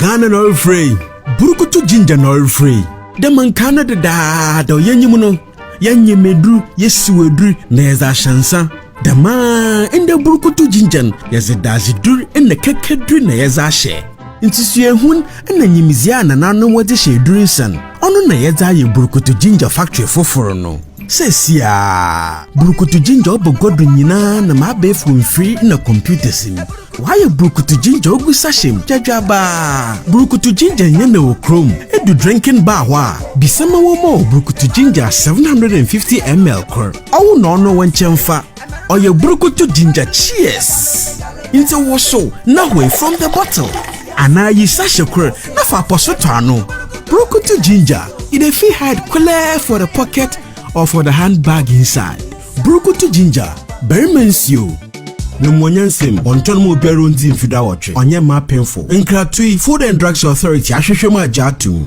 Ghana na ɔrefrɛ yi burukutu ginger na ɔrefrɛ yi dɛ mankaa no dedaada ɔyɛnyi mu no yɛnye meduru yɛsiw aduru na yɛdze ahyɛ nsa Dɛm ara na eburukutu ginger no, yɛdze dadze dur na kɛkɛ dur na yɛdze ahyɛ. Ntsi suahun na nyimdzee a nananom no wɔdze hyɛ edur nsa no, ɔno na yɛdze ayɛ eburukutu ginger factory fofor no. Seseiara, burukutu ginger ɔba gua do nyina na ma abaefo mfir na computers mu. Wɔayɛ burukutu ginger ogu sachet mu dwadwaba. Burukutu ginger nnyɛ na wɔ kurow mu. Edu drinking bar hɔ a, bisa ma wɔmma wo burukutu ginger 750ml kor. Ɔwo na ɔno wo nkyɛnfa ɔyɛ burukutu ginger cheers nti wo so na hoi from the bottle anaa yi sahye kor na fa pɔso tɔ ano burukutu ginger e dey fit hide kulɛɛ for the pocket or for the hand bag inside burukutu ginger barima nsuo. Memuanya nsɛm, ɔntɔ no ma obiara ondzi mfe duawɔtwe, ɔnyɛ mma apemfo. Nkratoi, Food and Drugs Authority ahwehwɛ mu agye ato mu.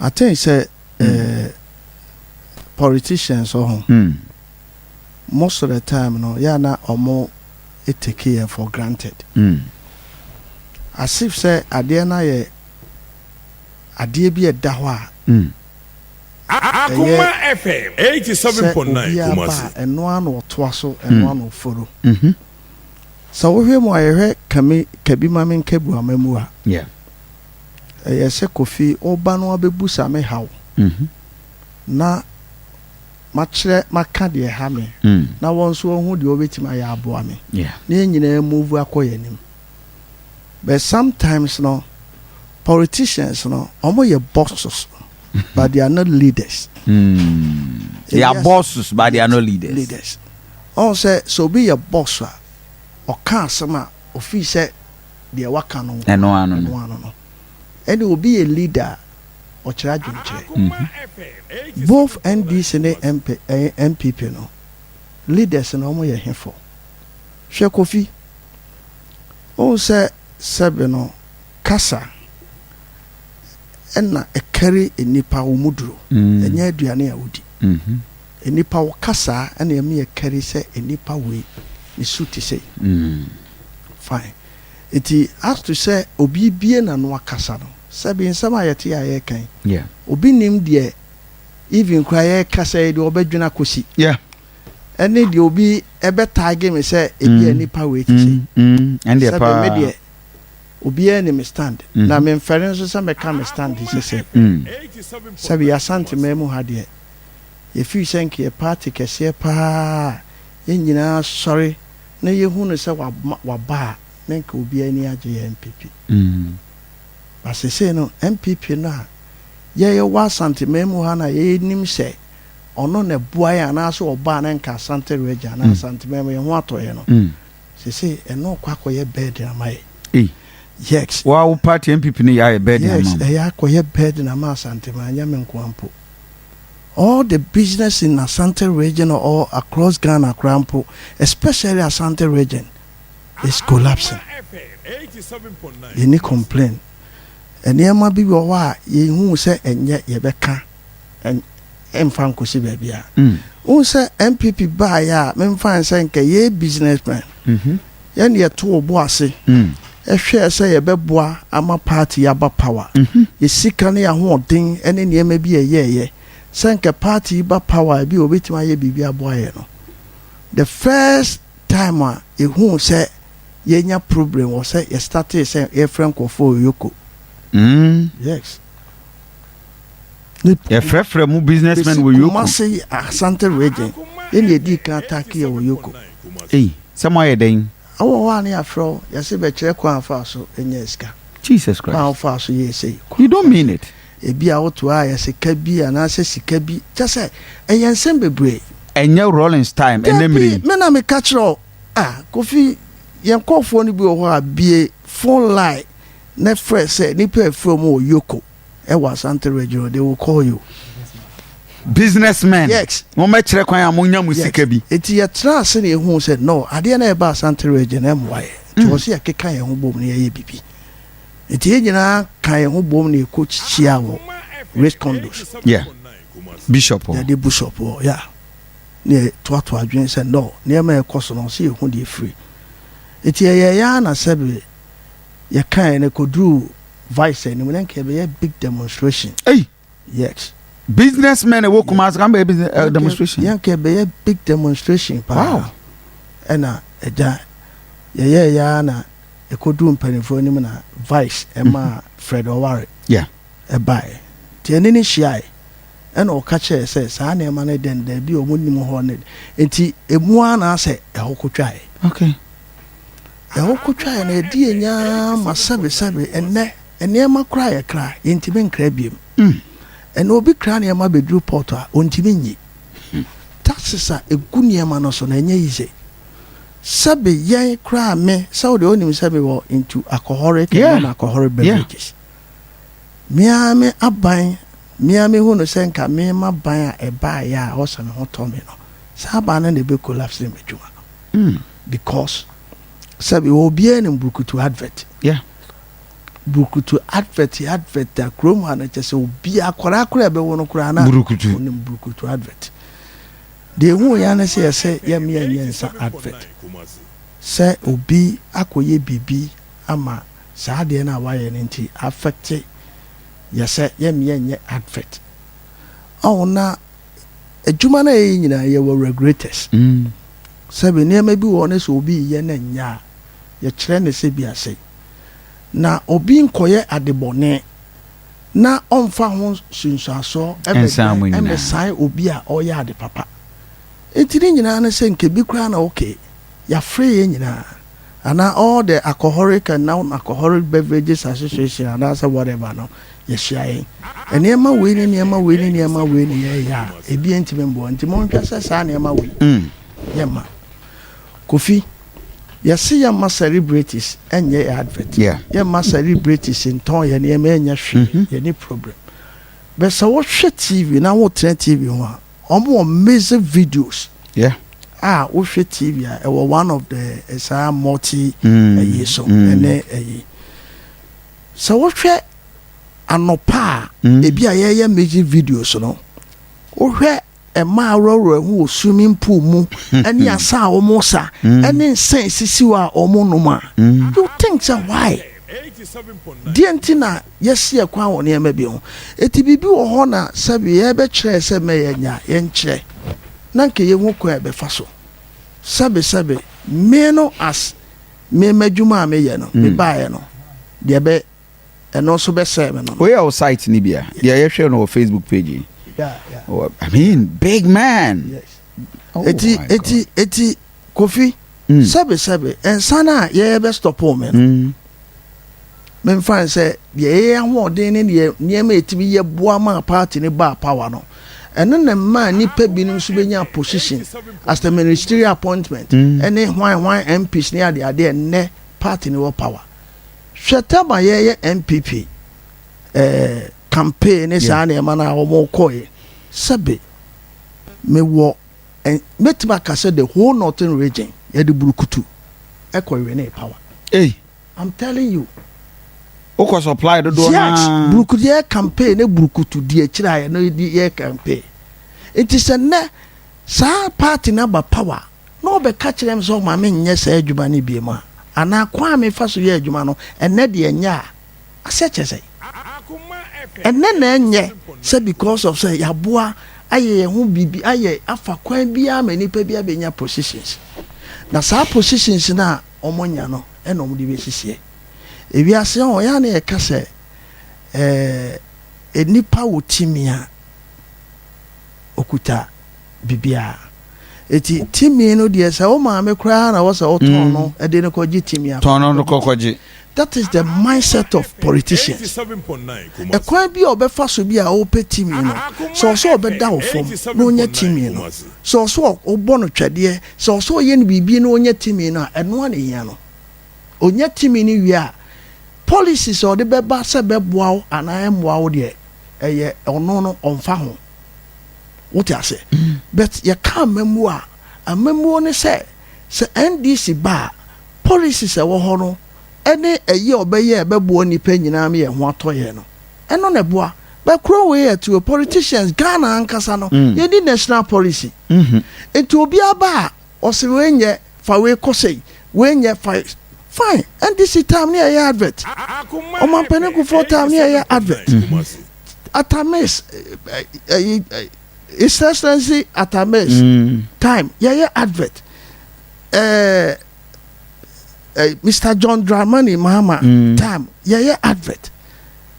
I think sɛ mm. politicians wɔ ho mm. most of the time no yɛ na ɔmo take yɛn for granted mm. as if sɛ adeɛ no ayɛ adeɛ bi ɛda hɔ a mm. Akuma FM 87.9 Kumasi ɛno ano ɔtoa so ɛno mm. ano ɔforo mm-hmm. sɛ wohwɛ mu a yɛhwɛ kabi ma me nkabu ama mu a Ɛyɛ sɛ Kofi woba no abɛbusa me haw na makyerɛ maka deɛ ɛha me na wɔn nso wɔahu deɛ wɔbɛtumi ayɛ aboa me na yɛn nyinaa move akɔ yɛn anim. But sometimes no politicians no wɔyɛ bosses but they are not leaders. Mm. They are bosses but they are not leaders. Leaders. Ɔn sɛ sɛ obi yɛ boss a ɔka asɛm a ofii sɛ deɛ waka no Ɛno ano no. ɛno ano no. Ɛne obi yɛ leader a, ɔkyerɛ adwenkyerɛ. Both NDC ne MP, ɛɛ, NPP no, leaders no wɔn yɛ hefo? Hwɛ Kofi. Wohu sɛ sɛbe no kasa ɛna ɛkari nnipa wɔn mu duro. Ɛnyɛ aduane a wodi. Nnipa wo kasaa ɛna ɛma yɛkari sɛ nnipa wei ne su te sei. Fine. Enti as to sɛ obi bue n'ano akasa no, sɛbi nsɛm a yɛte a yɛreka yi, obi nnim deɛ even koraa yɛrekasa yi deɛ ɔbɛdwene akɔsi. Yeah. Ɛne deɛ obi ɛbɛtaage me sɛ ebi a nipa wei te sɛ. Ɛndeɛ paa. Sɛbi me deɛ obiara nim me stand. Na memfɛre nso sɛ mɛka me stand te sɛ sɛ. Sɛbi yɛ Asanteman mu ha deɛ, yɛfiri sɛ nka yɛ party kɛseɛ paa a yɛn nyinaa sɔre na yɛhu no sɛ waba a, na nka obiara ani agye yɛ NPP. But seesei no, NPP no a yɛwɔ Asanteman mu ha no a yɛnim sɛ ɔno na ɛboa yɛn anaasɛ ɔba a na nka Asante Region anaa Asanteman mu yɛn ho atɔ yɛn no, seesei ɛno rekɔ akɔyɛ burden ama yɛn. Yes. Wo a wo party NPP no yɛ ayɛ burden ama wo. Yes, ɛyɛ akɔyɛ burden ama Asanteman, ɛnyɛ me nko ara mpo. All the business in Asante region or across Ghana koraa mpo especially Asante region is collapsing. Yɛnni complain. Nneɛma bi wɔ hɔ a yɛnhuu sɛ ɛnyɛ yɛbɛka mfa nkɔsi baabiara. Wohu sɛ NPP baeɛ a memfae sɛ nka yɛyɛ businessmen. Yɛn yɛtoo bo ase hwɛɛ sɛ yɛbɛboa ama paati yi aba pawa. Yɛ sika ne yɛ ahoɔden ne nneɛma bi a yɛyɛeɛ sɛ anka paati yi ba pawa a ebia wɔbɛtumi ayɛ biribi aboa yɛn no. The first time a yɛhuu sɛ yɛanya problem wɔ sɛ yɛ startee sɛ yɛrefrɛ nkurɔfoɔ Oyoko. Yes. yɛfrɛfrɛ mu businessmen wɔ yoko kumase asante region yɛne yɛdii kan atake yɛ wɔ yoko ei sɛ mo ayɛ dɛn awɔ hɔ a ne yɛafrɛ wo yɛse bɛkyerɛ kwan afa so nyɛ sika jesus christ kwan afa so yɛ sei you don't mean it ebi a woto a yɛ sika bi anaasɛ sika bi kyɛ sɛ ɛyɛ nsɛm bebree ɛnyɛ rollins time ɛnɛ mmiri dabi me na meka kyerɛ wo a kofi yɛn nkɔɔfoɔ no bi wɔ hɔ a bie phone line na frɛ sɛ nipa afrɛ mu wɔ yoko Ɛwɔ Asante region o, they will call you. Business men. Yes. Wɔn bɛkyerɛ kwan a monya mo sika bi. Eti yɛtena ase na yɛhuu sɛ no, adeɛ na ɛba Asante region na ɛmmoa yɛ. Nti wɔ sɛ yɛkeka yɛn ho bom na yɛyɛ biribi. Nti yɛn nyinaa ka yɛn ho bom na yɛkɔ hyia wɔ Race Condos. Yeah. Bishop hɔ. Yɛde Bishop hɔ, yeah. Na yɛtoato adwene sɛ no, nneɛma a ɛkɔ so no, sɛ yɛhu deɛ ɛfiri. Eti yɛyɛeɛ ara na sɛbe yɛkaeɛ no, ɛkɔduruu Vice anim na nka ɛbɛyɛ big demonstration. Hey! Yes. Business men ɛwɔ Kumasi kan bɛyɛ business uh, demonstration. Yɛn nka ɛbɛyɛ big demonstration paa. Wow. Ɛna ɛgya yɛyɛ ya na ɛkɔduru mpanimfoɔ anim na Vice ɛma mm -hmm. Fred Oware. Yeah. Ɛbaeɛ. Nti ɛne ne hyiae. Ɛna ɔka kyerɛ sɛ saa nneɛma no dɛn daabi a wɔn nim hɔ ne nti emu ara na asɛ ɛhɔ kɔtwae. Okay. Ɛhɔ kotwae na ɛde yɛn nyaa ma sɛbesɛbe ɛnnɛ nneɛma koraa a yɛkra yɛntumi nkra biom. Ɛnnɛ obi kra nneɛma bɛduru port a ɔntumi nyi. Taxes a ɛgu nneɛma no so no ɛnyɛ easy. Sɛbe yɛn koraa me sɛ wo deɛ wonim sɛ mewɔ into alcoholic and non alcoholic beverages. Me ara me aban me ara mehu no sɛ nka me m'aban a ɛbaeɛ a ɛwɔ sɛ me ho tɔ me no saa aban no na ɛbɛ collapse m'adwuma no. because sɛ bi wɔ obiara nim burukutu advert yeah. burukutu advert yɛ advert a kurom ha no kyɛ sɛ obi akwadaa koraa ɛbɛwo no koraa na burukutu onim burukutu advert deɛ ehu ya ne sɛ yɛsɛ yɛmmea nyɛ nsa advert sɛ obi akɔyɛ biribi ama saa adeɛ no a wayɛ no nti afɛkte yɛsɛ yɛmmea nyɛ advert ɔwɔ na adwuma no a yɛyɛ nyinaa yɛwɔ regulators mm. Sɛbe nneɛma bi wɔ hɔ na sɛ obi reyɛ na ɛnyɛ a, yɛkyerɛ no sɛ bi ase. Na obi nkɔyɛ adebɔne na ɔmfa ho nsunsuansoɔ mmɛdwɛn mmɛsae obi a ɔreyɛ ade papa. Enti ne nyinaa ne sɛ nka bi koraa na okay, yɛafrɛ yɛn nyinaa anaa all the alcoholic and non-alcoholic beverages association anaasɛ whatever no, yɛhyia yɛn. Nneɛma wei ne nneɛma wei ne nneɛma wei ne yɛyɛ a, ebi ntumi mmoa. Nti monhwɛ sɛ saa nneɛma wei mm. yɛmma. Kofi, yɛse yɛmma celebrities ɛnyɛ yɛ advert. Yeah. Yɛmma celebrities ntɔn yɛ nneɛma ɛnyɛ hwee. Mm -hmm. Yɛne problem. Bɛ sɛ wohwɛ TV na wotena TV ho a, wɔn wɔ amazing videos. Yeah. a wohwɛ tv a ɛwɔ one of the eh, saa multi ɛyi mm, so ɛne mm. ɛyi Sɛ wohwɛ anɔpa a ebi a yɛyɛ music videos no, wohwɛ mmaa aworɔworɔ ho wɔ swimming pool mu ne asa a wɔsa ne nsa esisiw a wɔnom a, you think sɛ why? Deɛ nti na yɛasi ɛkwan wɔ nneɛma bi ho. Eti biribi wɔ hɔ na sɛbi yɛbɛkyerɛ sɛ mɛ yɛnya, yɛnkyerɛ na nka yɛhu kwan a yɛbɛfa so. Sɛbi sɛbi me no as. Me m'adwuma a me yɛ no me baa yɛ no deɛ bɛ ɛno nso bɛ sɛ me no. Wei yɛ o site ni bia deɛ yɛ hwɛ no wɔ Facebook page yi. I mean big man. Yes. Oh, eti eti eti kofi. Mm. Sɛbi sɛbi nsan a yɛ bɛ stop me no. Mm. Memfa no sɛ deɛ ɛyɛ yɛn ahoɔden ne deɛ nneɛma a ɛtumi yɛ boa maa party no baa power no, ɛno na ɛmaa nnipa binom nso bɛnyaa position as the ministerial appointment ne hwan hwan MPs ne ade ade a ɛnnɛ party no wɔ power. Hwɛ time a yɛreyɛ NPP eh, campaign ne saa nneɛma no a wɔkɔeɛ. Sɛbe mewɔ eh, mɛtumi aka sɛ the whole northern region yɛde burukutu ɛkɔ winee power. Ei! I'm telling you. Wokɔ supply dodoɔ naa. Yes, buruku deɛ yɛ campaign ne burukutu deɛ akyire ayɛ no yɛ campaign. Nti sɛ nnɛ saa party no aba power na wɔbɛka kyerɛ me sɛ ɔma me nyɛ saa adwuma no biem a, anaa kwan a mefa so yɛ adwuma no ɛnnɛ deɛ ɛnyɛ a, aseɛ kyerɛ sɛ ɛnnɛ na ɛnyɛ sɛ because of sɛ yɛaboa ayɛ yɛn ho biribi ayɛ afa kwan biara ma nipa bi abɛnya positions na saa positions no a wɔanya no na wɔde bɛsisiɛ. Ewiase yi, ɔyɛ a na yɛka sɛ ɛɛ nipa wɔ timi a ɔkuta biribiara. Eti timi no deɛ sɛ wo maame koraa na wɔ sɛ wotɔn no mm. de no kɔgye timi a. Tɔn no no kɔkɔgye. That is the mindset of politicians. Ɛkwan bi a ɔbɛfa so bi a ɔpɛ timi no sɛ ɔsɛ ɔbɛda wo fam na ɔnya timi no sɛ ɔsɛ ɔbɔ no twɛdeɛ Sɛ ɔsɛ ɔyɛ no biribi na ɔnya tumi no a, ɛno ara na ɛhia no. Ɔnya tumi no wie a, policies a ɔde bɛba sɛ bɛboa wo anaa ɛmmoa wo deɛ, ɛyɛ ɔno no, ɔmfa ho. Wote ase? But yɛka amammuo a, amammuo ne sɛ, sɛ NDC ba a, policies a ɛwɔ hɔ no ne ɛyi a ɔbɛyɛ a ɛbɛboa nnipa nyinaa ma yɛn ho atɔ yɛn no, ɛno na ɛboa bɛ kuro wei yɛ to politicians Ghana ankasa no yɛ ni national policy nti obi aba a ɔsi wei nyɛ fa wei kɔsɛ yi wei nyɛ fa fine NDC time ne ɛyɛ advert ɔmampanin kufoɔ time ne ɛyɛ advert atamis ɛyi his excellency atamis time yɛyɛ advert ɛɛ ɛɛ Mr John Dramani Mahama time yɛyɛ advert.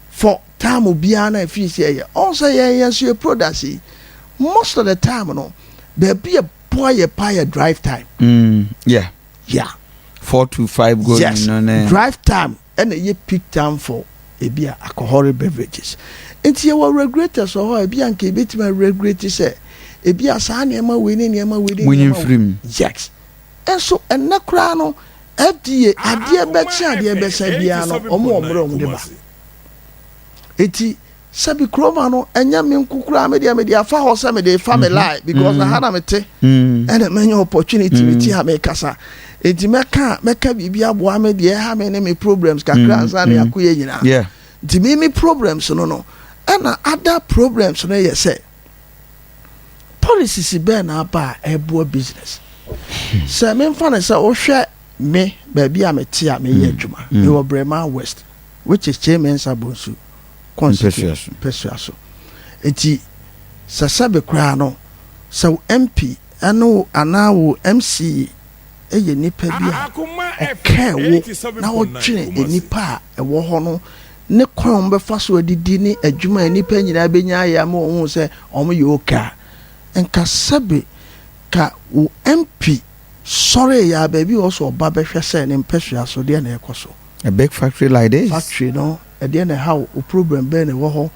for term biara no a ɛfiri sɛ ɛyɛ ɔn sɛ yɛn yɛn nso yɛ products yi most of the time no baabi a boa yɛ pa yɛ drive time. Mm, yeah. Yeah. Four to five go yes. no ne. Drive time ɛna ɛyɛ peak time for ebi a alcoholic beverages. Nti yɛwɔ regulators wɔ hɔ a ebi a nka ebetumi a regulate sɛ ebi a saa nneɛma wei ne nneɛma wei ne nneɛma wei. Munyi mfirim. Yes. Nso ɛnnɛ koraa no FDA adeɛ bɛkye adeɛ bɛsa biara no wɔn wɔ mmerɛ a wɔn de ba. Enti sɛbi kuroma no ɛnyɛ me nko koraa me deɛ me de afa hɔ sɛ me de fa me lie because aha na me te ɛna mɛnya opportunity me ti ha me kasa enti mɛka mɛka biribi aboa me deɛ ɛha me ne me problems kakra ansa na yako yɛ nyinaa nti me me problems no no ɛna ada problems no yɛ sɛ Policies bɛn na aba a ɛboa business? Sɛ memfa no sɛ wohwɛ me baabi a mete a meyɛ adwuma, mm. mewɔ mm. Brema West, which is Kyei Mensah Bonsu constituency Mpasua so. Nti sɛ sɛbe koraa no sɛ wo MP ɛne wo anaa wo MCA ɛyɛ nipa bi a ɔkɛɛ wo na ɔtwene nipa a ɛwɔ hɔ no ne kwan a wɔbɛfa so adidi ne adwuma a nnipa nyinaa bɛnya ayɛ ama wɔahu sɛ wɔyɛ okay a, nka sɛbe ka wo MP sɔree a baabi a ɔwɔ sɛ ɔba bɛhwɛ sɛ ne mpasua so deɛn na ɛrekɔ so. A big factory like this. Factory no, ɛdeɛn na ɛha wo? Wo problem bɛn na ɛwɔ hɔ?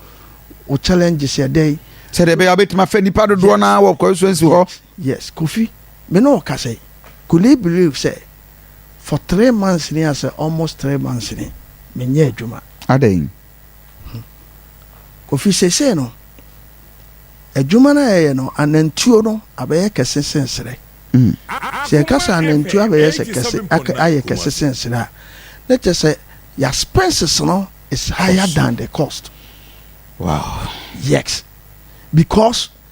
Wo challenges yɛ dɛn? Sɛdeɛ ɛbɛyɛ a wobɛtumi afɛ nnipa dodoɔ no ara wɔ constituency hɔ. Yes Kofi me ne wo kasa yi could he believe sɛ for three months ni asɛ almost three months ni me nyɛ adwuma. Adɛn? Kofi seesei no adwuma no a yɛyɛ no anantuo no abɛyɛ kɛse sen serɛ. Sɛ yɛka sɛ anantuo abɛyɛ sɛ kɛse aka ayɛ kɛse sen serɛ a na kyerɛ sɛ ya spenses no is higher than the cost. Wow. Yes because.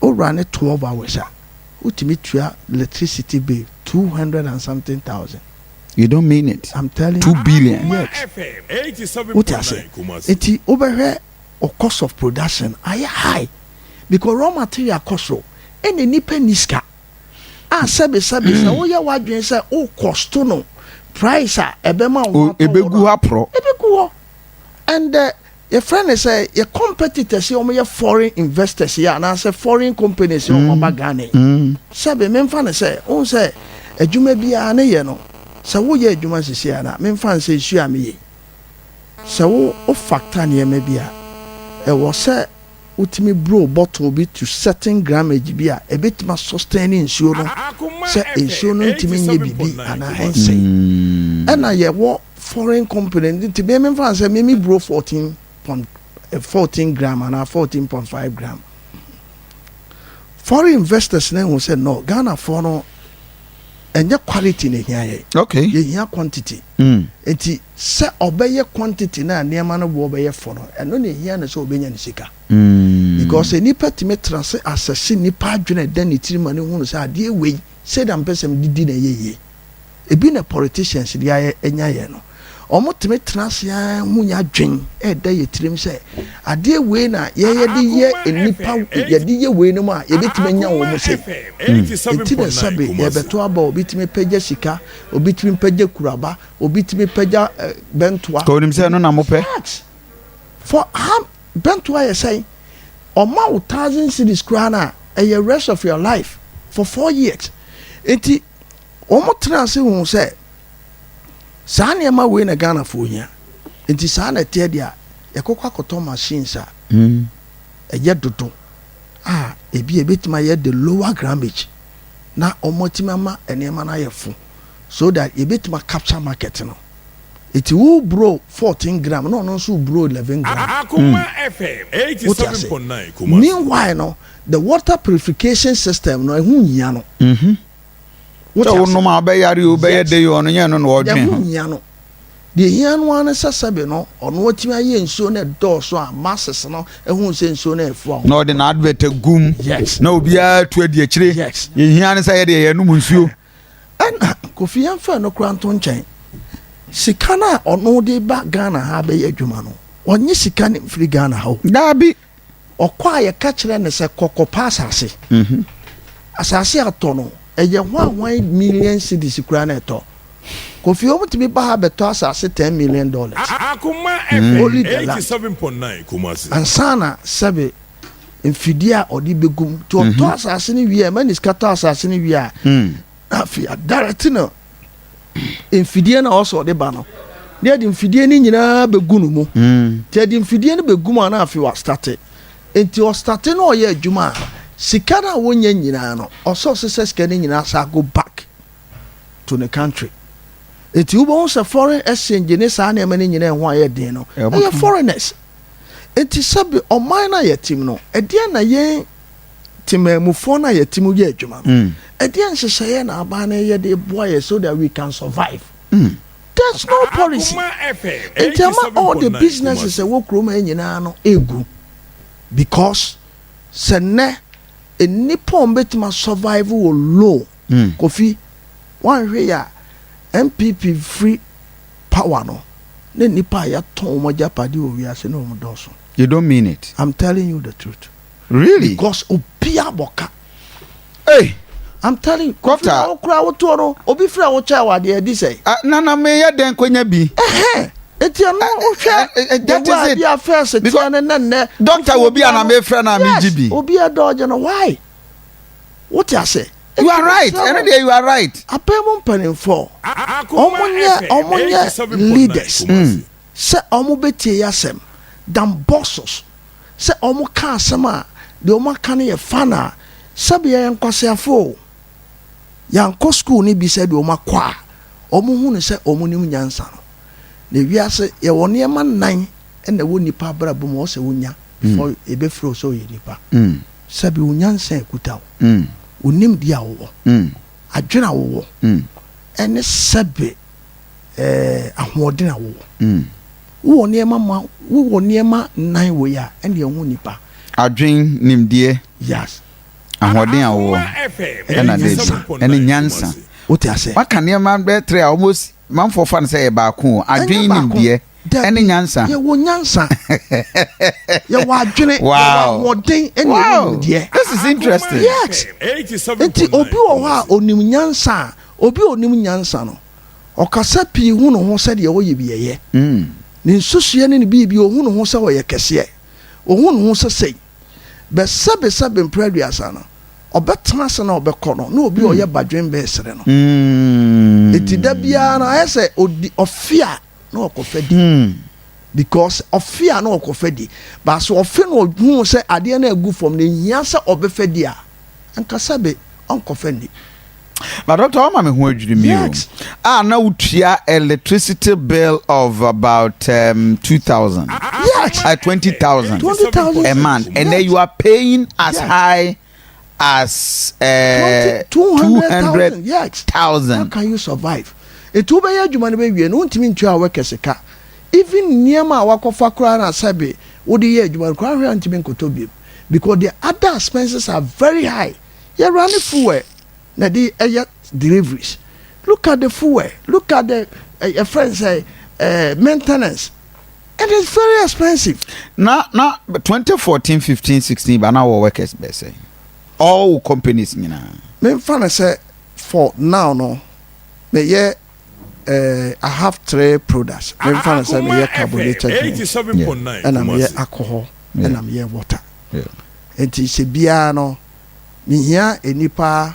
wo wura ne twelve hours a, wotumi tua electricity bill two hundred and something thousand. You don't mean it, I'm telling two billion. Yes, wote ase? Eti wobɛhwɛ o cost of production ayɛ high because raw material kɔ soro ɛna nipa ni sika a sɛbi sɛbi sɛ woyɛ w'adwene sɛ o cost no price a ɛbɛma wo atɔ wɔ no ɛbɛgu hɔ and the Yɛfrɛ no sɛ yɛ competitors yi wɔn yɛ foreign investors yi anaasɛ foreign companies yi wɔn ba Ghana yi. Sɛbi me nfa no sɛ wohu sɛ adwuma biara ne yɛ no sɛ wo yɛ adwuma sisi a na me nfa no sɛ nsuo a me yɛ yi sɛ wo wo factor nneɛma bi a ɛwɔ sɛ wotumi blow bottle bi to certain grammage bi a, ebetumi a sustain nsuo no sɛ nsuo no ntumi nyɛ biribi anaa ɛnsɛe. Ɛna yɛwɔ foreign company no nti me memfa no sɛ me me blow fourteen point fourteen gram anaa fourteen point five gram. Foreign investors no ahu sɛ no Ghanafoɔ no ɛnyɛ quality na ehia yɛ okay yɛhia quantity mm. nti sɛ ɔbɛyɛ quantity na nneɛma no boɔ bɛyɛ fɔ no ɛno na ehia no sɛ ɔbɛnya ne sika mm. because nipa tumi tra se asɛse nipa adwene ɛda ne tiri ma ne hunu sɛ adeɛ wei sɛ da mpɛ sɛm didi na ɛyɛ yie ebi na politicians de ayɛ ɛnya yɛ no wɔtumi tena ase ara hu yɛn adwene ɛda yɛn tirim sɛ adeɛ wei na yɛyɛ de yɛ nnipa yɛde yɛ wei no mu a yɛbɛtumi anya wɔn mu sei ɛti na sɛbe yɛbɛto aba obi tumi pɛgya sika obi tumi pɛgya kuraba obi tumi pɛgya eh, bɛntoa ka onim sɛ ɛno na mopɛ for how bɛntoa yɛ sɛn ɔma wo thousand cities koraa no a ɛyɛ rest of your life for four years nti wɔtraa ase huu sɛ saa nneɛma wei na Ghanafoɔ hia. Nti saa na ɛteɛ deɛ a yɛkɔkɔ akɔtɔ machines a ɛyɛ dodo a ebi a ebetumi ayɛ the lower grammage na wɔatumi ama nneɛma no ayɛ fo so that yɛbɛtumi a capture market no. Nti wo bro fourteen gram na ɔno nso bro eleven gram. Wote ase? Meanwhile no, The water purification system no ɛho nhia no. Mhm. Sɛ wo nom a wobɛyare o, wobɛyɛ dei o, ɔno nyɛ ɛno na ɔdwen ho. Ɛho nhia no. Deɛ ɛhia no ara ne sɛ sɛbe no ɔno atumi ayɛ nsuo no ɛdɔɔso a masses no ɛhu sɛ nsuo no ɛfoa wɔn. Na ɔde na advert agu mu. Yes. Na obiara tu adi akyire. Yes. Deɛ ɛhia ne sɛ yɛdeɛ yɛnom nsuo. Ɛna kofi yɛn fɛ no kora nto nkyɛn. Sika no a ɔno de ba Ghana ha bɛyɛ adwuma no ɔnye sika no mfiri Ghana ha o. Daabi. Ɔkɔ a yɛka kyerɛ no sɛ kɔ kɔpa asase. Asase a ɔtɔ no, ɛyɛ hwan hwan million cedis koraa na ɛtɔ. Kofi wɔn tumi ba ha bɛtɔ asase ten million dollars. Akoma FM eighty seven point nine Kumasi. Ansa na sɛbe mfidie a ɔde bɛgu mu. Nti ɔtɔ asase no wie a, ɛma ne sika tɔ asase no wie a, na afei a direct no. mfidie no a ɔsɛ ɔde ba no na yɛde mfidie no nyinaa bɛgu no mu hmm. nti yɛde mfidie no bɛgu mu a na afei wastate nti ɔstate no ɔyɛ adwuma a sika no a wɔnya nyinaa no ɔsɛ ɔsɛ sɛ sika no nyinaa sa go back to the country nti wobɛhu sɛ foreign exchange ne saa nneɛma no nyinaa ɛho ayɛ den no ɛyɛ foreigners nti sɛbi ɔman no a yɛtim no ɛdeɛ na yɛn Temanmufoɔ no a yɛte mu yɛ adwuma no, mm. ɛdeɛ nhyehyɛeɛ na aban no yɛ de boa yɛ so that we can survive. Mm. There's no policy. Nti ama all the businesses ɛwɔ kurom ha nyinaa no egu because sɛ nnɛ nnipa a wɔbɛtumi survive wɔ low mm. kofi wɔnhwɛ yɛ a npp free power no ne nnipa a yɛtɔn wɔn agyapade wɔ wiase ne wɔn dɔɔso. You don't mean it. I'm telling you the truth. Really? Because obia bɔ ka. Hey! I'm telling you, Kofi na wo kura wo toɔ no, obi fira wo kyɛ wɔ adeɛ di sɛ. Ah, nana me yɛ dɛn konya bi. Ɛhɛn, eti ɛno eh, wohwɛ eh, eh, that is it. Ɛwɔ first tiɛ ne nɛ nɛ. Doctor wo bi ana me fira na me gyi bi. Yes, obi ɛdɔɔgye no, why? What you say? You are right, ɛno deɛ you are right. Apɛ mu mpanimfoɔ, ɔmo nyɛ ɔmo nyɛ leaders. Sɛ ɔmo bɛ tie yasɛm, dan bosses. sɛ wɔka asɛm a, deɛ wɔaka no yɛ fun a, sɛbe yɛyɛ nkwaseafoɔ o, yɛankɔ school no bi sɛdeɛ wɔakɔ a, wɔhu no sɛ wɔnim nyansa no. Na wiase, yɛwɔ nneɛma nnan na ɛwɔ nipa abrabɔ mu a ɛwɔ sɛ wonya before yɛbɛfrɛ wo sɛ woyɛ nipa. Sɛbe wo nyansa a ɛkuta wo, wo nimdeɛ a wowɔ, adwene a wowɔ, ɛne sɛbe ɛɛ ahoɔden a wowɔ. Wowɔ nneɛma ma, wowɔ nneɛma nnan wei a, ɛnneɛ wo ho nipa. Adwen, nimdeɛ. Yes. Ahoɔden a wowɔ, ɛna date, ɛne nyansa. Wote aseɛ? Waka nneɛma bɛyɛ three a almost manfoɔ fa no sɛ ɛyɛ baako o. Adwen, nimdeɛ, ɛne nyansa. Yɛwɔ nyansa, yɛwɔ adwene, yɛwɔ ahoɔden, ɛne yɛwɔ nimdeɛ. This is interesting. Yes. Nti obi wɔ hɔ a onim nyansa a, obi a onim nyansa no, Ɔkasa pii hu ne ho sɛ deɛ ɔyɛ bi ɛyɛ. Ne nsusuiɛ ne ne biribi ɔhu ne ho sɛ ɔyɛ kɛseɛ. Ɔhu ne ho sɛ sei. Bɛsɛbesɛ bempere aduasa no, ɔbɛtena ase na ɔbɛkɔ no na obi a ɔyɛ badwen bɛresere no. Enti da biara no ayɛ sɛ ɔdi ɔfe a na ɔkɔfa di. Because ɔfe a na ɔkɔfa di. But sɛ ɔfe na ɔhu sɛ adeɛ no agu fam na ɛhia sɛ ɔbɛfa di a, anka sɛbe ɔnkɔfa nni. But doctor wama me ho adwiri mi o. A na wotua electricity bill of about um, 2000. Yes. Uh, 20,000. 20,000 a month. And then you are paying as high as uh, 200,000. Yes. How can you survive? Etu wobɛyɛ adwuma no bɛwie no wontumi ntua a wɔkɛ sika even nneɛma a wakɔfa koraa na sɛbe wode yɛ adwuma no koraa hwɛ a ntumi nkɔtɔ biom because the other expenses are very high yɛwura ne fuel na ɛde ɛyɛ deliveries look at the fuel look at the ɛyɛ fɛn sɛ ɛɛ maintenance it is very expensive. na na twenty fourteen fifteen sixteen ba na wɔ workers bɛɛ sɛ all companies nyinaa. menfa no sɛ for now no meyɛ. I have three products. Me nfa no sɛ meyɛ carbonated drinks, ɛna meyɛ alcohol, ɛna meyɛ water. Nti sɛ biara no, mehia nnipa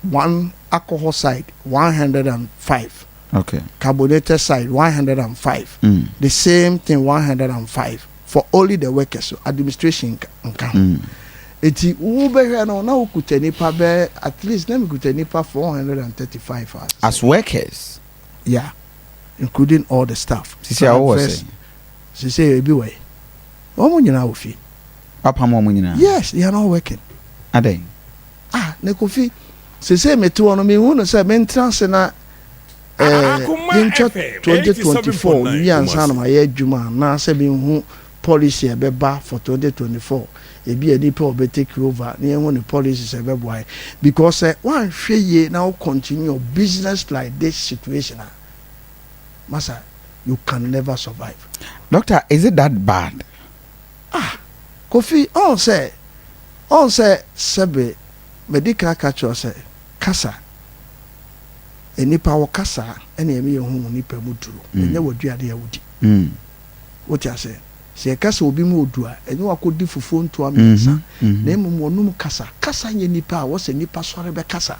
one alcohol side one hundred and five. Okay. Carbonated side one hundred and five. Mm. The same thing one hundred and five. for only the workers o, administration nka ho. Enti wobɛhwɛ no na wokuta nnipa bɛɛ at least na mekuta nnipa four hundred and thirty five a. As workers? Yeah, including all the staff. Sisi a wowɔ sɛ? Sisi ebi wɔ he? Wɔn nyinaa wɔ fie. Wapam wɔn nyinaa? Yes, they are not working. Adɛn? Ah, ne Kofi, sisi mete hɔ no mehu no sɛ mentena ase na ɛɛ yɛntwa twenty twenty four nwie ansa na mayɛ adwuma anaasɛ menhu policy a ɛbɛba for twenty twenty four ebi a nipa a ɔbɛ take over na yɛhu ne policies a ɛbɛboa yɛn because sɛ woanhwɛ yie na wo continue your business like this situation a masa you can never survive. Doctor is it that bad. Ah Kofi ɔn sɛ ɔn sɛ sɛbe madi kan aka kyerɛ wo sɛ. Kasa. Nnipa wo kasa na ɛma yɛ hu wo nipa mu duro, ɛnyɛ w'aduane a wo di. Wo te aseɛ? Sɛ yɛ kasa obi mu odu a, ɛnyɛ wakɔ di fufuo ntoa mmiɛnsa, na mmom wɔ nom kasa. Kasa nyɛ nipa a wɔ sɛ nipa sɔre bɛ kasa.